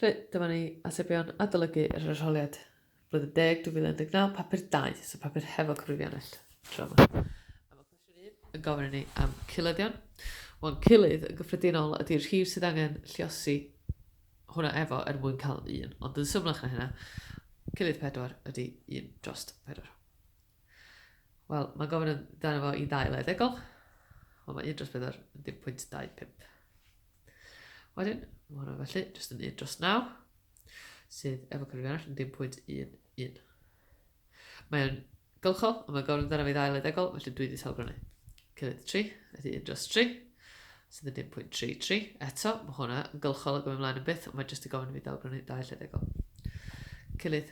Felly, dyma ni atebion adolygu yr arholiad blwyddyn deg 2019, papur 2, so papur hefo cyfrifiannell tro yma. A mae cwestiwn 1 yn gofyn i ni am ciledion. Wel, cilydd yn gyffredinol ydy'r rhif sydd angen lliosi hwnna efo er mwyn cael un, ond yn symlach na hynna, cilydd 4 ydy 1 dros 4. Wel, mae'n gofyn amdano fo i ddail eddegol. Wel, mae 1 dros 4 yn 10.25. Wedyn, mae hwnna felly jyst yn 1 dros 9, sydd efo cyfrif arall yn 10.11. Mae'n gylchol, ond mae'n gofyn amdano fi ddail eddegol, felly dwi wedi talgranu. Cyfyd 3, ydy 1 dros 3, sydd yn 10.33. Eto, mae hwnna yn gylchol o gofyn ymlaen yn byth, ond mae jyst i gofyn i fi dalgranu ddail eddegol. Cyfyd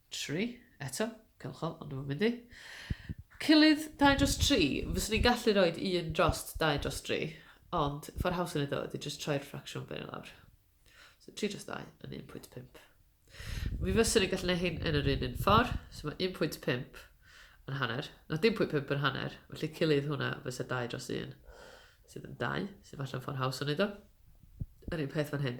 Tri, eto, cylchol, ond dwi'm yn mynd i. Cyllid dau dros tri, fyswn i'n gallu roed un drost dau dros tri, ond ffordd haws o wneud o ydy jyst troi'r ffracsiwn fyny lawr. So 3 dros 2 yn 1.5. Mi fyswn i'n gallu gwneud hyn yn yr un un ffordd, so mae 1.5 yn hanner, na 1.5 yn hanner, felly cyllid hwnna fysa 2 dros 1, sydd yn 2, sydd falle'n ffordd haws o wneud o. Yr un peth fan hyn.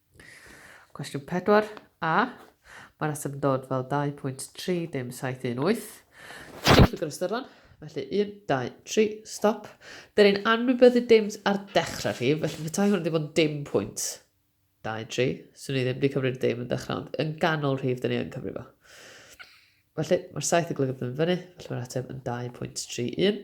Cwestiwn 4, A. Mae rheswm yn dod fel 2.3 dim 718. Ti'n llwg yr ystyron, felly 1, 2, 3, stop. Dyn ni'n anwybyddu dims ar dechrau rhif, felly petai hwn wedi bod yn dim pwynt 2, 3, swn i ddim wedi cyfri'r dim yn dechrau, ond yn ganol rhif, dyn ni yn cyfri fo. Felly, mae'r 7 yn golygu bod yn fyny, felly mae'r ateb yn 2.31.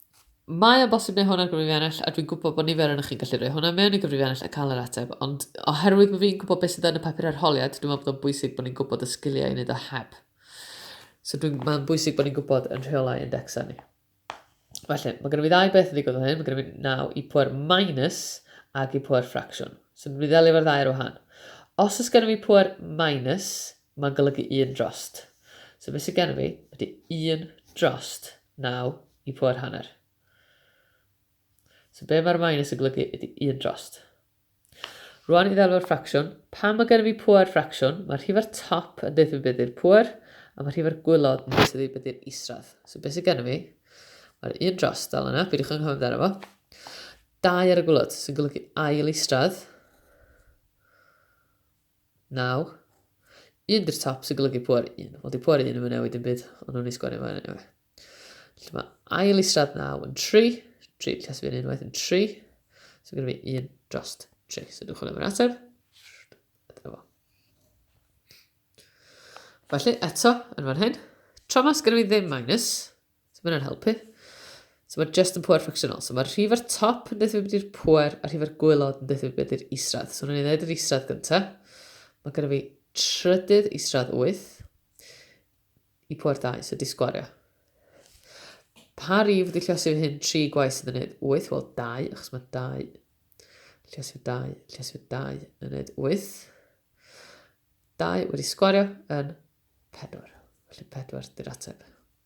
Mae o'n bosib neu hwn ar gyfrif ennill, a dwi'n gwybod bod nifer ohonoch chi'n gallu rhoi hwnna mewn i gyfrif ennill a cael yr ateb, ond oherwydd bod fi'n gwybod beth sydd yn y papur arholiad, dwi'n meddwl bod o'n bwysig bod ni'n gwybod y sgiliau i wneud o heb. So dwi'n, mae'n bwysig bod ni'n gwybod yn rheolau indexau ni. Felly, mae gennym ni ddau beth yn ddigwydd o hyn. Mae gennym ni naw i pwer minus ac i pwer ffracsiwn. So dwi'n mynd i ddelio efo'r ddau ar wahan. Os oes gennym ni pwer minus, Mae'n golygu un drost. So be sydd gen i fi ydy un drost naw i poer hanner. So be mae'r minus yn golygu ydy un drost. Rwan i ddelw'r ffracsiwn, pan mae gen i fi poer ffracsiwn, mae'r rhifau'r top yn dweud fi beth ydy'r poer, a mae'r rhifau'r gwylod yn dweud fi beth ydy'r isradd. So be sydd gen i fi? Mae'r un drost dal yna, peidiwch yn cofio amdano fo. Dau ar y gwylod, sy'n golygu ail isradd, Nawr, un dy'r top sy'n golygu pŵer 1. Wel, di pŵer 1 yn newid yn byd, ond nhw'n ei sgwennu fo enw. Felly mae ail israd 9 yn 3, 3 yn llesfu yn unwaith yn 3, so gyda fi 1 dros 3. So dwi'n chwilio am yr ateb. Dyna fo. Felly, eto, yn fan hyn, tra mas gyda fi ddim minus, So mae hynna'n helpu. So mae just yn pwer ffracsiynol. So mae'r rhif ar top yn dweud beth i'r pwer a'r rhif ar gwylod yn dweud beth i'r isradd. So wnawn ni ddweud yr isradd gyntaf. Mae gyda fi trydydd isradd 8 i pwer 2, so disgwario. Pa rif wedi lliosi fy hyn tri gwaith sydd yn gwneud 8? Wel, 2, achos mae 2. Lliosi fy 2, lliosi fy 2 yn gwneud 8. 2 wedi sgwario yn 4. Felly 4 dy'r ateb.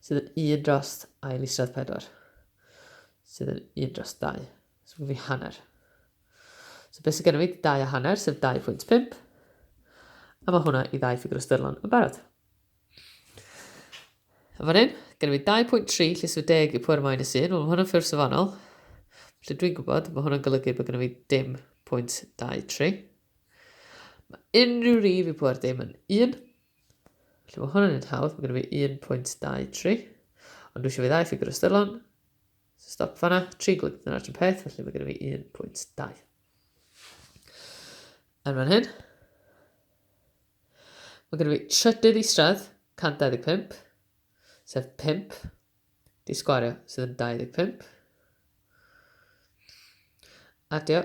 Sydd yn un dros ail isradd pedwar. Sydd yn un dros dau. So mae fi hanner. So beth sydd gennym fi? Dau a hanner, sef 2.5. A mae hwnna i ddau ffigur o styrlon yn barod. A fan hyn, gennym fi 2.3 lle sydd 10 i pwer minus 1. Wel, mae hwnna'n ffurf safonol. Felly dwi'n gwybod, mae hwnna'n golygu bod gennym fi dim pwynt 23. Mae unrhyw rif i pwer dim yn 1. Felly mae hwnna'n un hawdd, mae gen i fi 1.23. Ond dwi eisiau fi ddau ffigur ystyrlon. So stop fanna, tri glyg dyna'r un peth, felly mae gen i fi 1.2. Yn fan hyn, Mae gen i fi trydydd isradd, 125, sef 5, di sgwario sydd yn 25. Adio,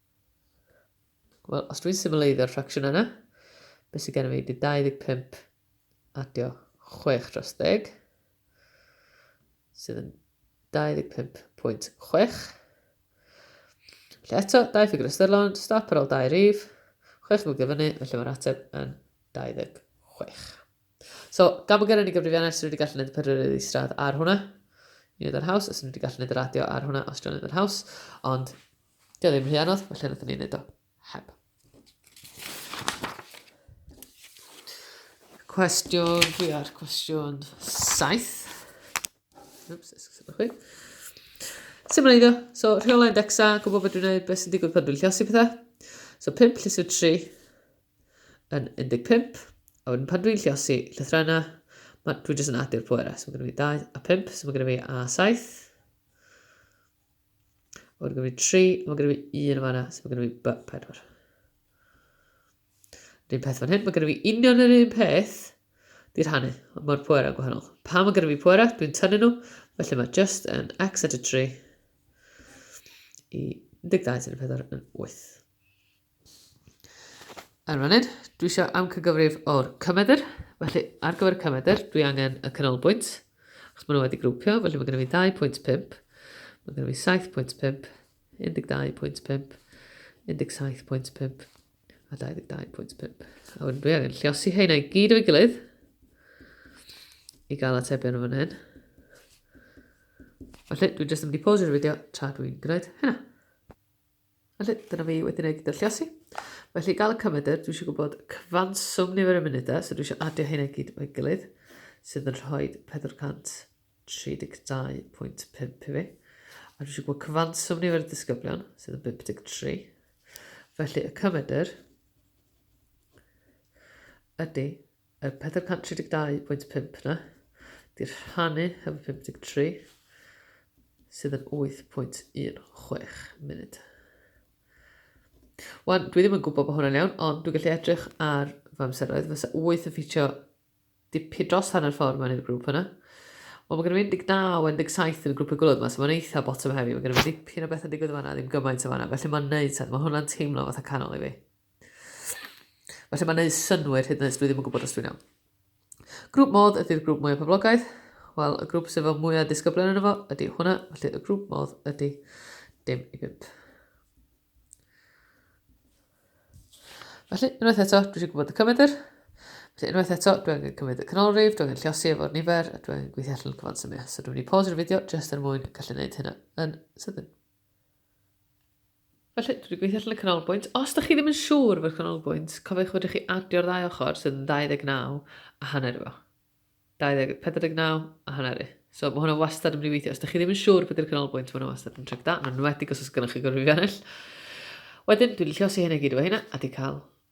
Wel, os dwi'n symleiddio'r ffracsiwn yna, beth sydd gennym ni? Bydd 25 adio 6 dros 10, sydd yn 25.6. Felly eto, dau ffigur ystyrlon, stop ar ôl dau rif, 6 mwgyd fyny, felly mae'r ateb yn 26. So, gan bod gennym ni gyfrifiannau, sy'n wedi gallu gwneud y pedwyr iddi stradd ar hwnna, i wneud yr haws, os ni wedi gallu gwneud yr adio ar hwnna, os dwi'n gwneud yr haws, ond Dio ddim rhy anodd, felly nath ni'n neud o heb. Cwestiwn, dwi ar cwestiwn 7. Oops, esgusod o'ch chi. Sut mae'n iddo? So, rheolau indexa, gwybod beth dwi'n gwneud, beth sy'n digwydd pan dwi'n lliosi pethau. So, 5 llysiau 3 yn 15. A wedyn pan dwi'n lliosi llythra yna, dwi'n jyst yn adu'r pwerau. So, mae gen i fi 2 a 5, so mae gen i fi a 7. Mae gen i 3, mae gen i 1 yn fanna, so mae gen i b 4. Yr un peth fan hyn, mae gen i union yr un peth, di'r hannu, ond mae'r pwerau gwahanol. Pa mae gen i pwerau, dwi'n tynnu nhw, felly mae just yn x at y 3 i 12 yn y 4 yn 8. Ar y funud, dwi eisiau amcangyfrif o'r cymedr. Felly, ar gyfer y cymedr, dwi angen y canolbwynt, achos maen nhw wedi grwpio, felly mae gen i fi 2.5, mae gen i fi 7.5, 12.5, 17.5 a 22.5. A wedyn dwi angen lliosi heina i gyd o'i gilydd i gael atebion o fan hyn. Felly, dwi jyst yn mynd i pause'r fideo tra dwi'n gwneud hynna. Felly, dyna fi wedi gwneud dylluosi. Felly, gael y cymedr, dwi eisiau gwybod cyfanswm nifer y munudau, so dwi eisiau adio hyn i gyd o'i gilydd, sydd yn rhoi 432.5 i fi. A dwi eisiau gwybod cyfanswm nifer y disgyblion, sydd yn 53. Felly, y cymedr ydy Y 432.5 na, di'r rhannu hefo 53, sydd yn 8.16 munud. Wan, dwi ddim yn gwybod bod hwnna'n iawn, ond dwi'n gallu edrych ar fy amseroedd. Fysa 8 yn ffitio dipyn dros hanner ffordd mewn i'r grŵp yna. Wel, mae gen i 19 17 yn y grwp y gwylod yma, so mae'n eitha bottom heavy. Mae gen i dipyn o beth yn digwydd yma, ddim gymaint o fanna. Felly mae'n neud sens. Mae hwnna'n teimlo fatha canol i fi. Felly mae'n neud synwyr hyd yn oed, dwi ddim yn gwybod os dwi'n iawn. Grŵp modd ydy'r grŵp mwyaf poblogaidd. Wel, y grŵp sydd fel mwyaf disgyblion yn efo ydy hwnna, felly y grŵp modd ydy dim i bimp. Felly, unwaith eto, dwi eisiau gwybod y cymedr. Felly, unwaith eto, dwi angen cymryd y canolrif, dwi angen llosi efo'r nifer, a dwi angen gweithio allan cyfan symiau. So dwi'n mynd i pause'r fideo jyst er mwyn gallu gwneud hynna yn sydyn. Felly, dwi wedi gweithio allan y canolbwynt. Os da chi ddim yn siŵr efo'r canolbwynt, cofiwch fedrwch chi adio'r ddau ochr sydd yn 29 a hanner efo. 20, 49 a hanner i. So mae hwnna wastad yn mynd i weithio. Os da chi ddim yn siŵr beth yw'r canolbwynt, mae hwnna wastad yn tric da, yn enwedig os oes gennych chi gorfod i fi Wedyn, dwi'n lliosi hyn i gyd efo hynna, a di cael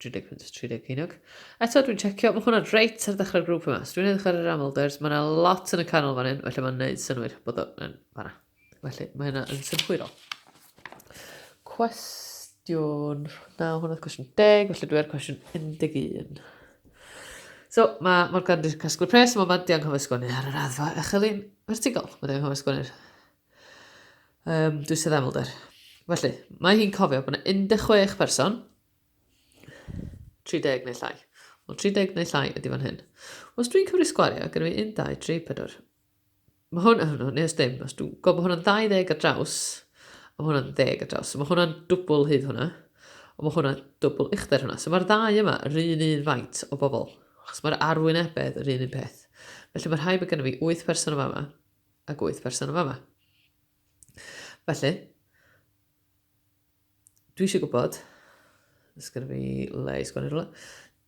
30 punt, 30 ceiniog. Eto, dwi'n checio, mae hwnna'n reit ar ddechrau'r grŵp yma. Os dwi'n edrych ar yr amlders, mae yna lot yn y canol fan hyn, felly mae'n neud synwyr bod o'n fanna. Felly, mae hynna yn synhwyrol. Cwestiwn, na, hwnna oedd cwestiwn 10, felly dwi'n cwestiwn 11. So, mae Morgan wedi casglu pres, mae Mandy anghofio sgwennu ar yr addfa echelin vertigol. Mae wedi anghofio sgwennu'r Um, dwi sydd aml der. Felly, mae hi'n cofio bod yna 16 person, 30 neu llai. Wel, 30 neu llai ydy fan hyn. Os dwi'n cymryd sgwario, gyda fi 1, 2, 3, 4. Mae hwn yn hwnnw, neu os dim, os dwi'n gwybod bod hwnna'n 20 ar draws, a mae hwnna'n 10 ar draws. So mae hwnna'n dwbl hyd hwnna, ond mae hwnna'n dwbl uchder hwnna. So mae'r ddau yma yr un un faint o bobl, achos mae'r arwynebedd yr un un peth. Felly mae rhai bod gennym fi 8 person yma yma, ag wyth person yn fama. Felly, dwi eisiau gwybod, ys gyda fi le i sgwennu rhywle,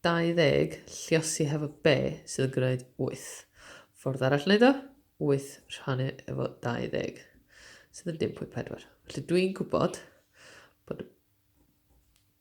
20 lliosi hefo be sydd yn gwneud 8. Ffordd arall wneud o, 8 rhannu efo 20, sydd yn 10.4. Felly dwi'n gwybod bod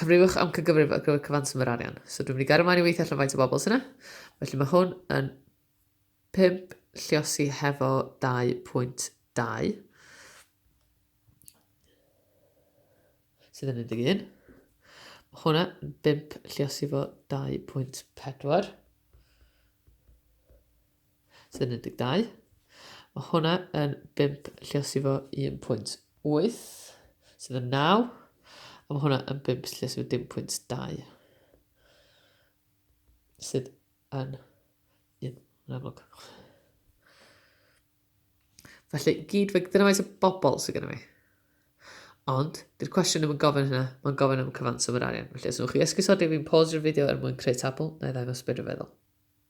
Cyfrifwch am cygyfrif ar gyfer cyfanswm yr arian. So dwi'n mynd i gario mlaen i weithio allan faint o bobl sy'n yna. Felly mae hwn yn 5 lliosi hefo 2.2 sydd yn 11. Mae hwnna yn 5 lliosi fo 2.4. Sy'n 12. Mae hwnna yn 5 lliosi fo 1.8 sydd yn 9 a mae hwnna yn 5 lliosi fo 1.2 sydd yn 1 yn amlwg. Felly, gyd fe, dyna faint o bobl sydd gennym ni. Ond, dy'r cwestiwn ddim yn gofyn hynna, mae'n gofyn am cyfanswm yr arian. Felly, os ydych chi esgusodi fi'n pause yr fideo er mwyn creu tabl, na i ddangos byd rhyfeddol.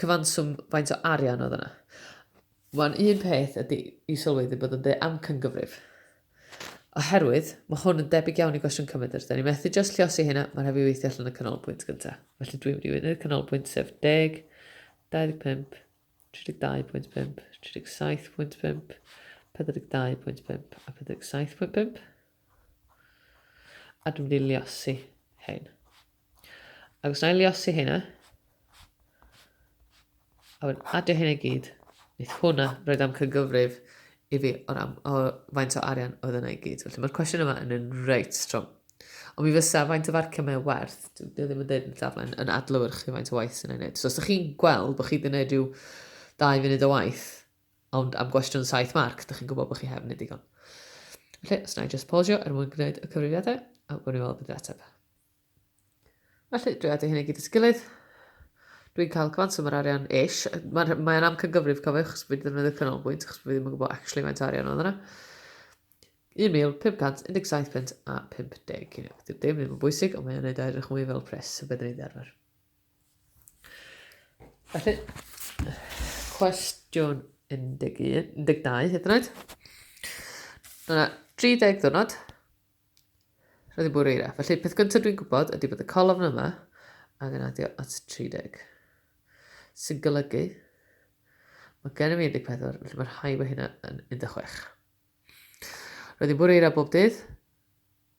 cyfanswm faint o arian oedd yna. Mae'n un peth ydy i sylweddau bod yn dweud amcangyfrif. Oherwydd, mae hwn yn debyg iawn i gwestiwn cymedr. Da ni methu just lliosi hynna, mae'n rhaid i weithio allan y canolbwynt gyntaf. Felly dwi'n mynd i wneud y canolbwynt sef 10, 25, 32.5, 37.5, 42.5 a 47.5. A dwi'n mynd i lliosi hyn. Ac os na i liosi hynna, a wedyn adio hyn i gyd, wneud hwnna roed am cygyfrif i fi o'r am, o faint o arian oedd yna i gyd. Felly mae'r cwestiwn yma yn un reit strong. Ond mi fysa faint o farcio mae werth, dwi ddim yn dweud yn llaflen, yn adlywr chi faint o waith sy'n ei wneud. So os ydych chi'n gweld bod chi wedi gwneud rhyw dau funud o waith, ond am gwestiwn saith marc, ydych chi'n gwybod bod chi heb wneud digon. Felly, os na i just pausio er mwyn gwneud y cyfrifiadau, a gwneud i weld beth ateb. Felly, dwi wedi hyn i gyd at gilydd. Dwi'n cael cyfanswm yr arian ish. Mae'n mae am cygyfrif, cofiwch, chos fi ddefnyddio canolbwynt, chos fi ddim yn gwybod actually mae'n arian oedd yna. 1,517 pint a 50 ceiniog. Dyw dim ddim yn bwysig, ond mae'n gwneud edrych mwy fel pres y byddwn i'n ddarfer. Felly, cwestiwn 11, 12 hyd yn oed. Dyna 30 ddwrnod, Roedd hi'n bwrw eira. Felly'r peth gyntaf dwi'n gwybod ydy bod y colofn yma angen adio at 30. Sy'n golygu, mae gennym ni 14, felly mae rhai mae hynna yn 16. Roedd hi'n bwrw eira bob dydd,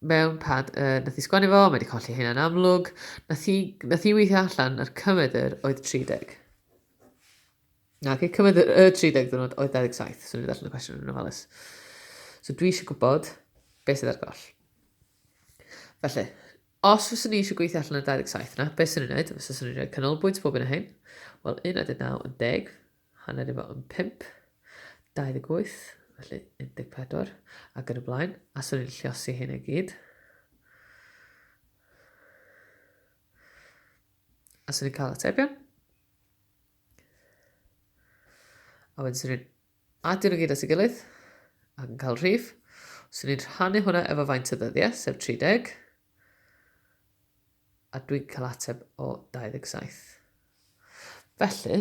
mewn pad uh, nath i sgwennu fo, mae wedi colli hyn yn amlwg, nath i, nath i weithio allan yr cymedr oedd 30. Nage, cyfnod y 30 ddiwrnod oedd 27, so ni'n ddarllen y cwestiwn yn ofalus. So dwi eisiau gwybod beth sydd ar goll. Felly, os fyswn ni eisiau gweithio allan y 27 yna, beth sy'n ei wneud? Os fyswn ni'n rhoi canolbwynt bob un o hyn, wel 19 yn 10, hanner efo yn 5, 28, felly 14, ac yn y blaen, a swn ni'n lliosi hyn i gyd. A swn ni'n cael atebion. A wedyn sy'n ni'n adio nhw gyd at ei gilydd ac yn cael rhif. Sy'n ni'n rhannu hwnna efo faint o ddyddiau, sef 30. A dwi'n cael ateb o 27. Felly,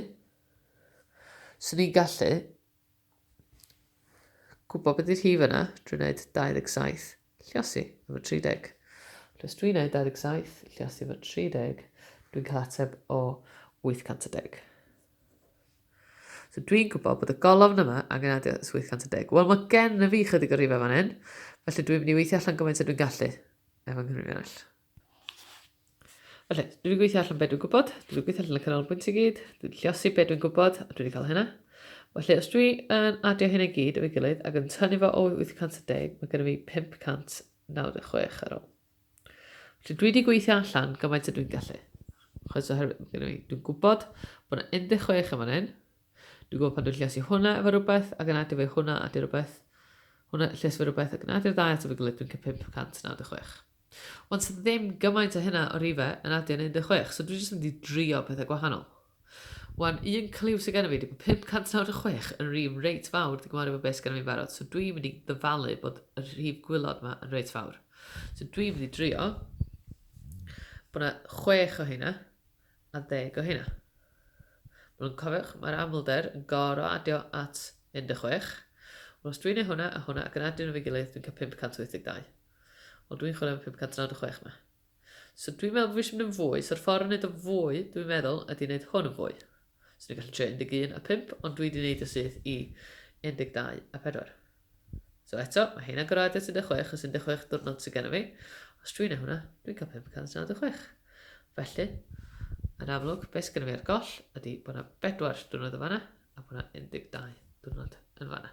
sy'n ni'n gallu gwybod beth yw'r rhif yna drwy wneud 27 Lluosi efo 30. Lluos dwi'n neud 27, lluosi efo 30. Dwi'n cael ateb o 810. So dwi'n gwybod bod y golofn yma angen adio 810. Wel, mae gen y fi chydig o rifau fan hyn, felly dwi'n mynd i weithio allan gymaint ydw i'n gallu efo'n nghyfrifiannell. Felly, dwi wedi gweithio allan beth dwi'n gwybod, dwi wedi gweithio allan y canolbwynt i gyd, dwi wedi lliosi beth dwi'n gwybod, a dwi wedi cael hynna. Felly, os dwi yn adio hynna i gyd o'i gilydd ac yn tynnu fo o 810, mae gennym fi 596 ar ôl. Felly, dwi wedi gweithio allan gymaint y dwi'n gallu. Chos oherwydd, gennym fi, dwi'n gwybod bod yna 16 yn fan hyn. Dwi'n gwybod pan dwi'n lliosi hwnna efo rhywbeth ac yn adio fe hwnna, adio rhywbeth, hwnna lliosi efo rhywbeth ac yn adio ddau at efo gilydd, dwi'n cael 596. Ond sa ddim gymaint a hynna o rife yn adio yn 16, so dwi jyst yn mynd i drio pethau gwahanol. Wan, un cliw sydd gennym fi ydy bod 596 yn rif reit fawr di gymharu efo beth sydd gennym fi'n barod, so dwi'n mynd i ddyfalu bod y rhif gwylod yma yn reit fawr. So dwi'n mynd i drio bod yna 6 o hynna a 10 o hynna. Mae'n nhw'n cofiwch, mae'r amlder yn goro adio at 16. Wel, os dwi'n ei hwnna a hwnna ac yn adio nhw fe gilydd, dwi'n cael 582. Ond dwi'n chwilio am y 596 'ma. So dwi'n meddwl bod fi eisiau mynd yn fwy, so'r ffordd o wneud o fwy, dwi'n meddwl, ydy wneud hwn yn fwy. So ni'n gallu trio 11 a 5, ond dwi wedi wneud y syth i 12 a 4. So eto, mae hyn agor at 16, os 16 diwrnod sydd gennym fi. Os dwi'n ei hwnna, dwi'n cael 596. Felly, yn amlwg, beth sydd gennym fi ar goll ydy bod yna 4 diwrnod yn fanna, a bod yna 12 diwrnod yn fanna.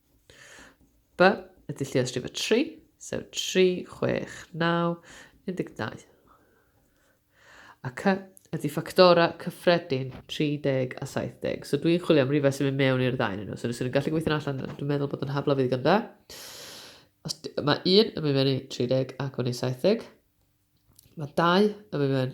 B y dulliau strifa 3, sef 3, 6, 9, 12. A C ydy ffactorau cyffredin 30 a 70. So dwi'n chwilio am rhywbeth sy'n mynd mewn i'r ddau yn nhw. So nes i'n gallu gweithio'n allan, dwi'n meddwl bod yn hafla fi ddigon da. Os, mae un yn mynd mewn i 30 ac yn ei 70. Mae dau yn mynd mewn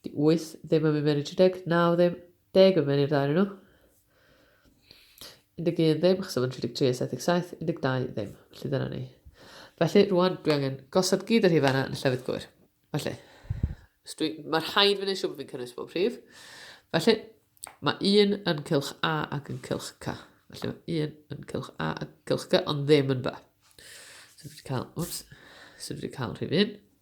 'Di wyth ddim yn mynd mewn i'r tri deg, naw ddim, deg yn mynd i'r ddau ohonyn nhw. 11 ddim, achos oedd yn 33 a 77, 12 ddim. Felly dyna ni. Felly rwan dwi angen gosod gyd yr rhif yna yn y llefydd gywir. Felly, mae rhaid fynd i'n siŵr bod fi'n cynnwys bob rhif. Felly, mae un yn cylch A ac yn cylch C. Felly mae un yn cylch A ac yn cylch C, ond ddim yn B. So dwi wedi cael, wps, so dwi wedi cael rhif un.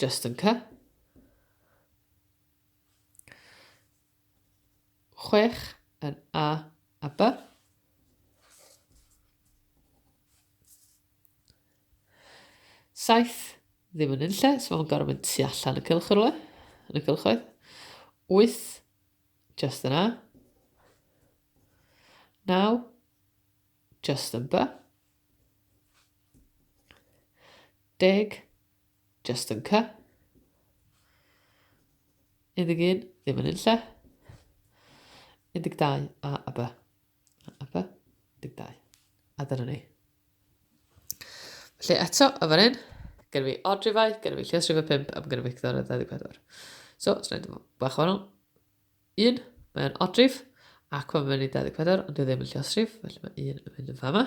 Just yn cy. Chwech yn A a B. Saith ddim yn unlle, so mae'n gorfod mynd tu allan y cylch rhywle, yn y cylchoedd. Wyth, just yn A. Naw, just yn B. Deg, Just yn cy. Unig un, ddim yn unlle. 12 a a b. A b, 12. A dyna ni. Felly eto, yn fan hyn, gen fi odrifau, gen fi lles rhywbeth 5 am gen fi cydor 24. So, ti'n rhaid bach o wahanol. 1, mae'n odrif, ac mae'n mynd i 24, ond dwi ddim yn lliosrif, felly mae 1 yn mynd yn fama.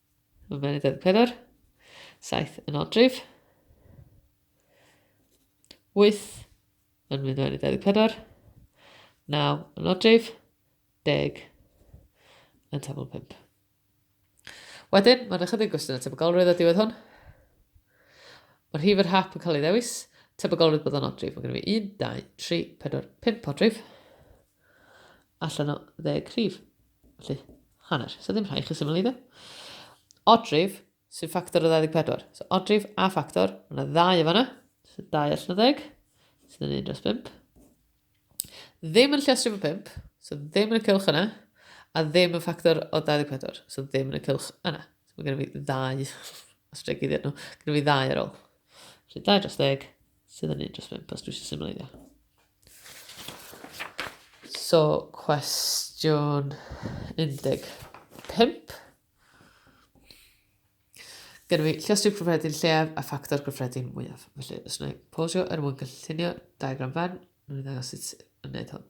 Mae'n edrych yn pedwar. Saith yn odrif. Wyth yn mynd mewn i 24. Naw yn odrif. Deg yn tabl 5. Wedyn, mae'n ychydig gwestiwn o tebygolrwydd o diwedd hwn. Mae'r hif yr hap yn cael ei ddewis. Tebygolrwydd bod o'n odrif. Mae gen i fi 1, 2, 3, 4, 5 odrif. allan o ddeg rhif. Felly, hanner. So ddim rhaid chi syml iddo. Odrif, sy'n ffactor o 24. So odrif a ffactor, yna ddau o fanna. So dau allan o ddeg, sydd yn un dros 5. Ddim yn llestri fo 5, so ddim yn y cylch yna, a ddim yn ffactor o 24, so ddim yn y cylch yna. So mae gen i fi ddau, os dwi gyd i'r nhw, gen i fi ddau ar ôl. Felly 2 dros 10, Sydd yn un dros bimp, os dwi eisiau symleiddio. So, cwestiwn 15. Gyda fi lliostrif cyffredin lleaf a ffactor cyffredin mwyaf. Felly, os yna posio er mwyn cynllunio diagram fan, mae'n ddangos sut yn gwneud hwn.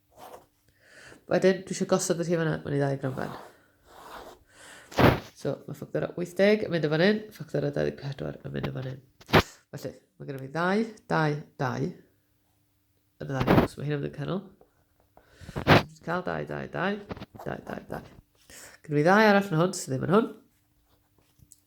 Wedyn, dwi eisiau gosod y rhi fanna, mae'n ei ddau gramfen. So, mae ffactor 80 yn mynd y fan hyn, ffactor 24 yn mynd y fan hyn. Felly, mae gennym ni ddau, ddau, ddau. Yn y ddau, so mae hyn yn mynd yn canol. Dwi'n cael ddau, ddau, ddau, ddau, ddau, ddau. Gynnu fi ddau arall yn hwn, sydd ddim yn hwn.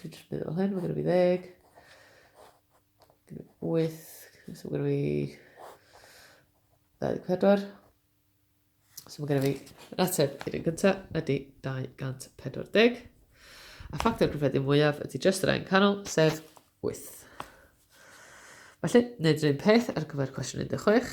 Dwi jyst mynd fel hyn, mae gen i fi ddeg. Gen i wyth, so mae gen i fi 24. So mae gen i fi, yr ateb i'r un gyntaf ydy 240. A ffactor cyffredin mwyaf ydy just yr ein canol, sef 8. Felly, wneud yr un peth ar gyfer cwestiwn 16.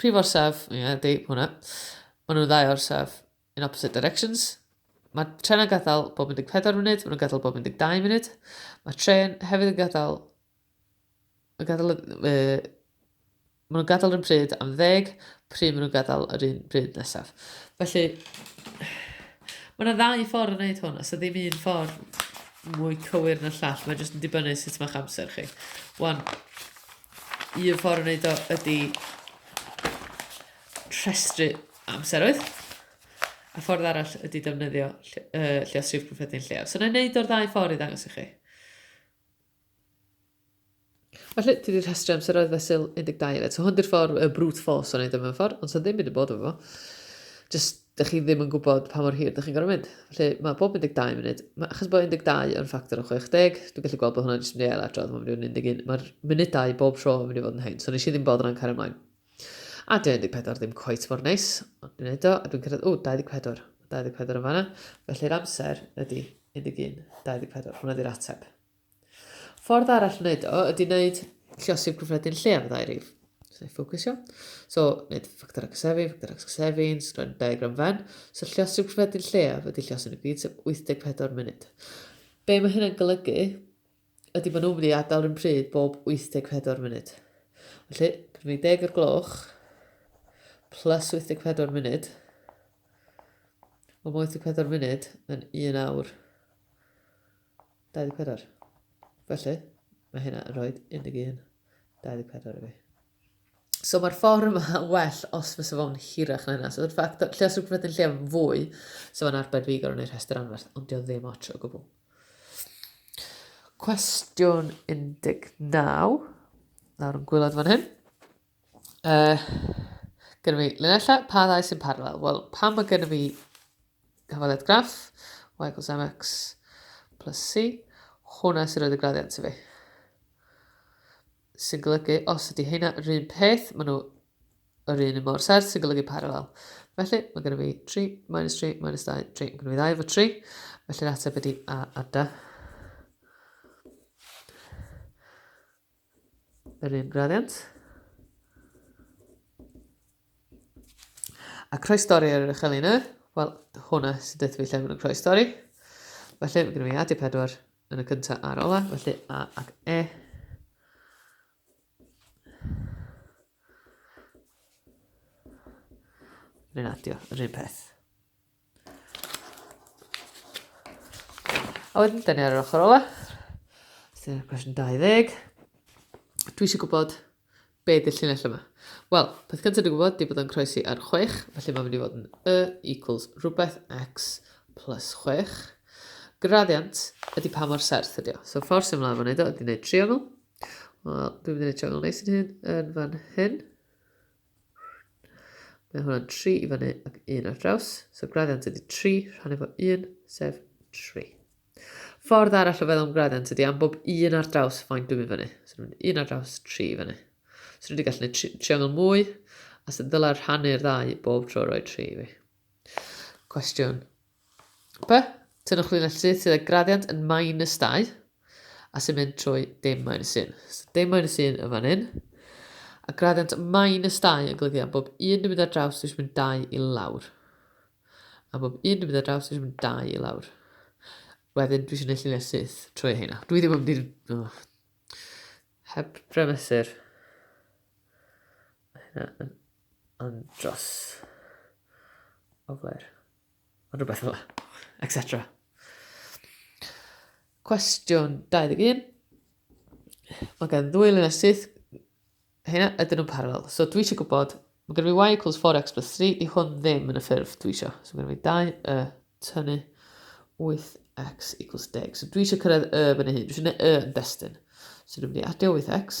Prif orsaf, ie, yeah, di, hwnna. Maen nhw'n ddau orsaf in opposite directions. Mae tren yn gadael bob 14 munud, maen nhw'n gadael bob 12 munud. Mae tren hefyd yn gadael... Yn gadael uh, maen nhw'n gadael yn pryd am ddeg, pryd maen nhw'n gadael yr un pryd nesaf. Felly, mae yna ddau ffordd yn gwneud hwn, os ydy ddim un ffordd mwy cywir na'r llall, mae'n jyst yn dibynnu sut mae'ch amser chi. Wan, Un ffordd o wneud o ydy rhestru amseroedd. A ffordd arall ydy defnyddio uh, lliosrif cyffredin lleaf. So na i wneud o'r ddau ffordd i ddangos i chi. Felly, ti wedi rhestru amseroedd fesul 12 eto. Hwn di'r ffordd y brute force o'n ei ddim yn ffordd, ond sy'n ddim mynd yn bod efo fo. Just dych chi ddim yn gwybod pa mor hir dych chi'n gorfod mynd. Felly, mae bob 12 munud, mae, achos bod 12 yn ffactor o 60, dwi'n gallu gweld bod hwnna'n jyst mynd i ail adrodd, mae'n mynd i fod yn 11, mae'r munudau bob tro yn mynd i fod yn hyn, so nes i ddim bod yna'n cario ymlaen. A dwi'n 14 ddim cweit mor neis, ond dwi'n neud o, a dwi'n cyrraedd, o, 24, 24 yn fanna, felly'r amser ydy 11, 24, hwnna di'r ateb. Ffordd arall wneud o ydy wneud lliosif gyffredin lle am ddau rif. So, ei ffocysio. So, wneud ffactor ac ysefu, ffactor ac ysefu, yn sgren diagram fen. So, lliosif gyffredin lleaf ydy lliosyn y gyd, sef 84 munud. Be mae hynna'n golygu ydy bod nhw'n mynd i adael rhywun pryd bob 84 munud. Felly, pryd mae 10 o'r gloch, plus 84 munud, o mae 84 munud yn 1 awr 24. Felly, mae hynna yn rhoi 11, 24 i fi. So mae'r ffordd yma yn well os fysa fo'n hirach na hynna. So yr ffaith, lle os rhywbeth yn lle fwy, so mae'n arbed fi gorau neu'r rhestr anferth, ond dio ddim ots o gwbl. Cwestiwn 19. Nawr yn gwylod fan hyn. Uh, gyda fi linella, pa ddau sy'n parallel? Wel, pan mae gyda fi hyfaliad graff, y equals mx plus c, hwnna sy'n rhoi y graddiant i fi. Sy'n golygu, os ydy hynna yr un peth, maen nhw yr un yn mor serth, sy'n golygu parallel. Felly, mae gyda fi 3, minus 3, minus 2, 3, mae gyda fi 2 efo 3, felly'r ateb ydy a a da. Yr un graddiant. A croestori ar yr uchel un yr, wel, hwnna sy'n dweud fi lle maen nhw'n croestori. Felly, mae gen i fi adio pedwar yn y cyntaf a'r ola, felly A ac E. Rwy'n adio yr un peth. A wedyn, dyn ni ar yr ochr ola. Dyna cwestiwn 20. Dwi eisiau gwybod be ydy'r llinell yma. Wel, peth cyntaf dwi'n gwybod di bod yn croesi ar 6, felly mae'n mynd i fod yn y equals rhywbeth x plus 6. Graddiant ydy pa mor serth ydy o. So ffordd sy'n mlaen fan edo ydy wneud triongl. Wel, dwi'n mynd i wneud triongl neis yn hyn, yn fan hyn. Mae hwnna'n 3 i fyny ac 1 ar draws. So graddiant ydy 3 rhan efo 1, sef 3. Ffordd arall o feddwl am graddiant ydy am bob 1 ar draws faint dwi'n mynd fyny. So dwi'n mynd 1 ar draws 3 i fyny. So dwi wedi gallu gwneud triongl mwy, a sy'n ddylai rhannu'r ddau bob tro roi 3 i fi. Cwestiwn P, Tynnwch linell syth sydd â graddiant yn minus 2 a sy'n mynd trwy dim minus 1. So dim minus 1 yn fan hyn. A graddiant minus 2 yn golygu am bob un dwi'n mynd ar draws dwi'n mynd 2 i lawr. A bob un dwi'n mynd ar draws dwi'n mynd 2 i lawr. Wedyn dwi eisiau gwneud lluniau syth trwy hynna. Dwi ddim yn mynd Oh. Heb bremesur. Hynna yn andros o flair. Rhywbeth fel la. Etc. Cwestiwn 21. Mae gen ddwy lun a syth. Hynna, ydyn nhw'n parallel. So dwi eisiau gwybod, mae gen i y equals 4x plus 3, di hwn ddim yn y ffurf dwi eisiau. So mae gen i 2 y tynnu 8x equals 10. So dwi eisiau cyrraedd y fan hyn. Dwi eisiau gwneud y yn destun. So dwi'n mynd i adio 8x.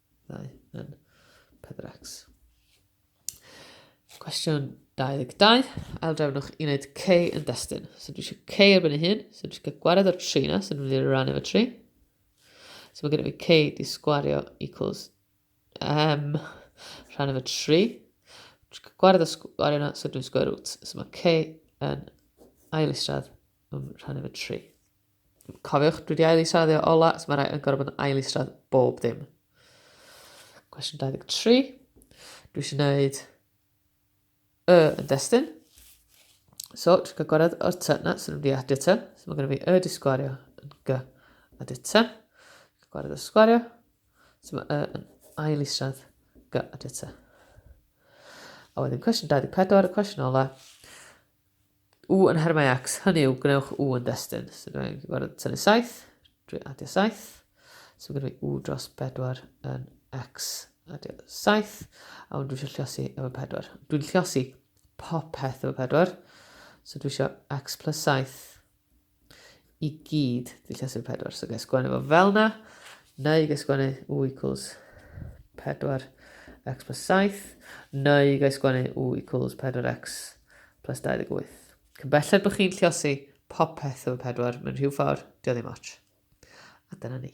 ddau yn 4x. Cwestiwn 22. Aildrefnwch i wneud C yn destun. So dwi eisiau C erbyn ei hun. So dwi eisiau gwared o'r 3 na. So dwi'n mynd i rannu fo 3. So mae gen i fi C di sgwario equals M rhan efo 3. Dwi'n gwared o sgwario na. So dwi'n sgwario root. So mae C yn ail istrad rhan efo tri. Cofiwch, dwi wedi ail israddio ola, so mae rhaid yn gorfod bod yn ail isradd bob dim. Cwestiwn 23. Dwi eisiau gwneud y yn destyn. So, dwi'n cael gwared o'r ty na, sy'n mynd i adio ty. So mae gen i fi y di sgwario yn g a di ty. Gwared o'r sgwario. So mae y yn ail isradd g a di ty. A wedyn cwestiwn 24, y cwestiwn ola. U yn her mae X, hynny yw, gwnewch U yn destun. So dwi'n rhaid gorfod tynnu 7, dwi'n adio 7. So mae gen i U dros 4 yn X, adio 7. A wedyn dwi eisiau lliosi efo 4. Dwi'n lliosi popeth efo 4. So dwi eisiau X plus 7 i gyd dy llesyn 4. So gael sgwennu fo fel na, neu gael sgwennu u equals 4 x plus 7, neu gael sgwennu u equals 4x plus 28. Cymbelled bod chi'n lliosi popeth efo 4 mewn rhyw ffordd, dio ddim ots. A dyna ni.